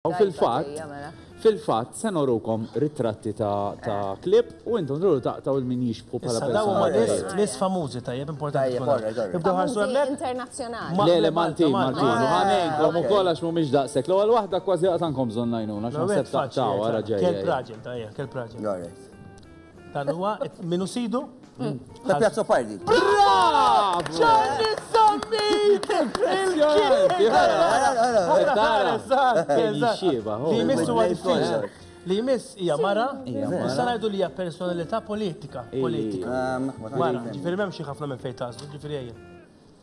U fil-fatt, fil-fatt, se norukom ritratti ta' ta' klieb u intom tridu taqtgħu 'l min jixbħu bħala persuna. Issa dawn huma nies, nies famużi tajjeb, importanti tkun hekk. Ibdew ħarsu hemmhekk. Famużi internazzjonali. Le, le, Maltin, Maltin. U ħa ngħinkom ukoll għax m'humiex daqshekk. L-ewwel waħda kważi qatgħankom bżonn l-għajnuna għax naħseb taqtgħu, ara ġejja hi. Kelb raġel, ta' hija, kelb raġel. Dan huwa minu sidu? La Piazza Pardi. Bravo! Ġanni Sammit! Li jmissu għal Li jmiss hija mara, issa ngħidu li hija personalità politika. Politika. Mara, ġifieri m'hemm xi ħafna minn fejn tażlu, ġifieri ejja.